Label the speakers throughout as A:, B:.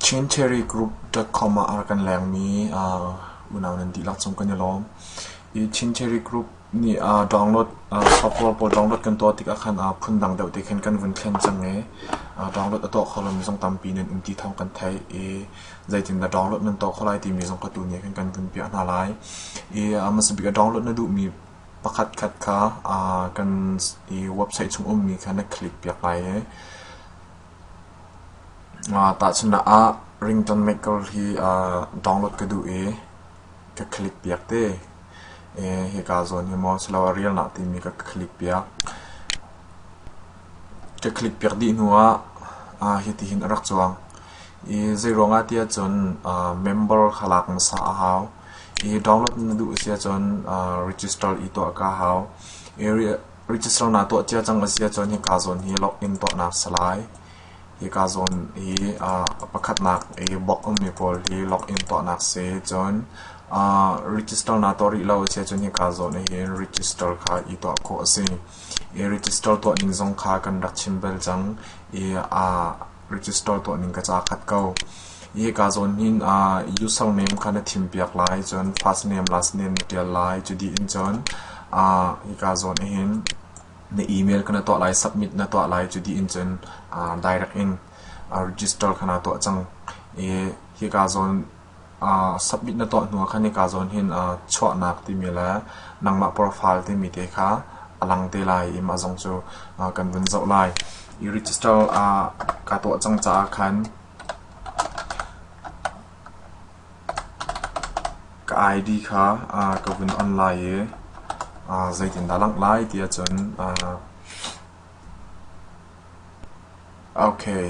A: Chinterry Group.com ah a kan lengmi unau nan dihlak cung kan i lawm. Hi Chinterry Group nih download software pawl download kan tuah tikah khan phundang deuh te khin kan vun thlen cang i download a tuah kho lomi zong tampi nan um ti thawng kan theih i zeitindah download nan tuah kho lai timi zong kha tu nih khin kan vun piah hna lai. Hi hmasabik a download na duhmi Pakhatkhat kha kan i website chung ummi kha na click piak lai i tahchunhnak ah Rington Maker hi download ka duh i ka click piak te. Hika zawn hi maw siloah Realna timi ka click piak. Ka click piak dih hnu ah hitihin a rak cuang. Hi zeiruangah tiah cun member kha lak hmasa a hau. I download na duh a si ahcun register i tuah ka hau. I register naa tuah cia cang a si ahcun hika zawn hi login tuahnak salai, hika zawn i pakhatnak i bawkmi pawl hi login tuahnak si cun register naa tuah rih lo a si ahcun hika zawn ahhin register kha i tuah khawh a si. I register tuah ning zong kha kan rak chim bel cang. I register tuah ning ka ca khat ko. I ka zawn hin uh, user name kha na thim piak lai, cun first name, last name na tial lai. Cu dih in cun uh, i ka zawn hin na email ka na tuah lai, submit na tuah lai. Cu dih in cun uh, direct in uh, register ka na tuah cang. I hi ka zawn Submit na tuah hnu ah khan hika zawn hin chuahnak timi le nangmah profile timi te kha a lang te lai i mah zong cu kan vun zoh lai. I register ka tuah cang caah khan ka ID kha ka vun on lai i zeitindah langh lai ti ahcun okay.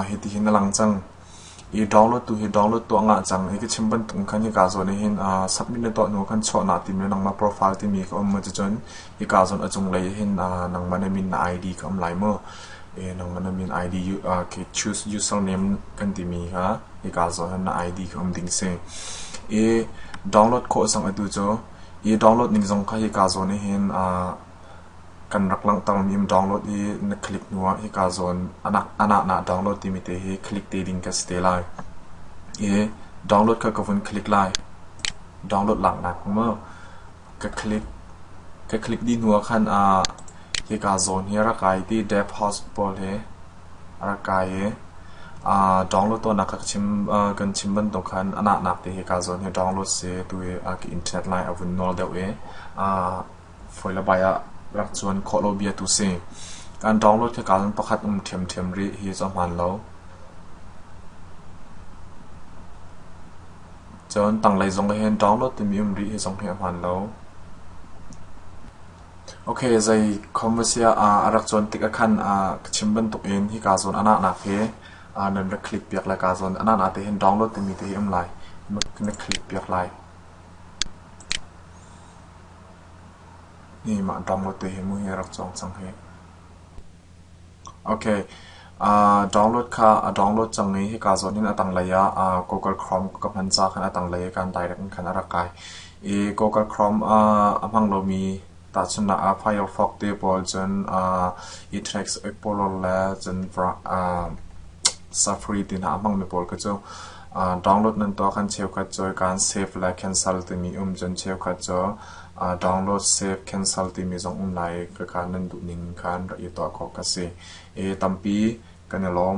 A: Hitihin a lang cang. I download tu hi download tuah ngah cang. Hi ka chim bantuk khan hi kaa zawn ahhin submit na tuah hnu khan chuah na timi le nangmah profile timi ka um maw cucun hi kaa zawn a cunglei ahhin nangmah na min na ID ka um lai maw? Nangmah na min ID ka choose username kan timi kha hi kaa zawn ahhin na ID ka um ding si. I download khawh cang atu cu. Hi download ning zong kha hi kaa zawn ahhin Kan rak langhtermi um download i na click hnuah hika zawn a nahna download timi te hi click te ding ka si te lai. I download kha ka vun click lai. Download laknak mu. Ka click ka click dih hnuah khan ah hika zawn hi a rak kai ti Dev House pawl he a rak kai i aa download tuahnak kha ka chim kan chim bantuk khan a nahnak te hika zawn hi download si tu i ka internet line a vun nawl deuh i aa fawi le bai ah rak cuan khawh lo bia tu si. Kan ṭawnglawt hi kal pakhat um ṭhiamṭhiam rih hi cu a hmaan lo. Cun tanglei zong ah hin ṭawnglawt timi um rih hi zong hi a hmaan lo. Ok, zei khawmasiah ah a rak cuan tik ah khan ah ka chim bantuk in hi kaa zawn a nahnak hi ah nan rak click piak le kaa zawn a nahnak te hin ṭawnglawt timi te hi um lai. Na click piak lai. Mah download tu hi muhi a rak cawng cang hih. Okay, uh, download kha a download cang i hika zawn in a tanglei ah uh, Google Chrome ka hman ca khan a tanglei i kan direct in khan a rak kai. I Google Chrome uh, a hmang lomi tahchunnak ah Firefox te pawl cun uh, Itrex, Explorer le cun uh, Safari ti hna a hmangmi pawl kha cu Download nan tuah khan cheukhat cu kaan save lai cancel timi um cun cheukhat cu download save cancel timi zong um lai i ka kaan nan duhning khan rak i tuah khawh ka si. Tampi kan i lawm.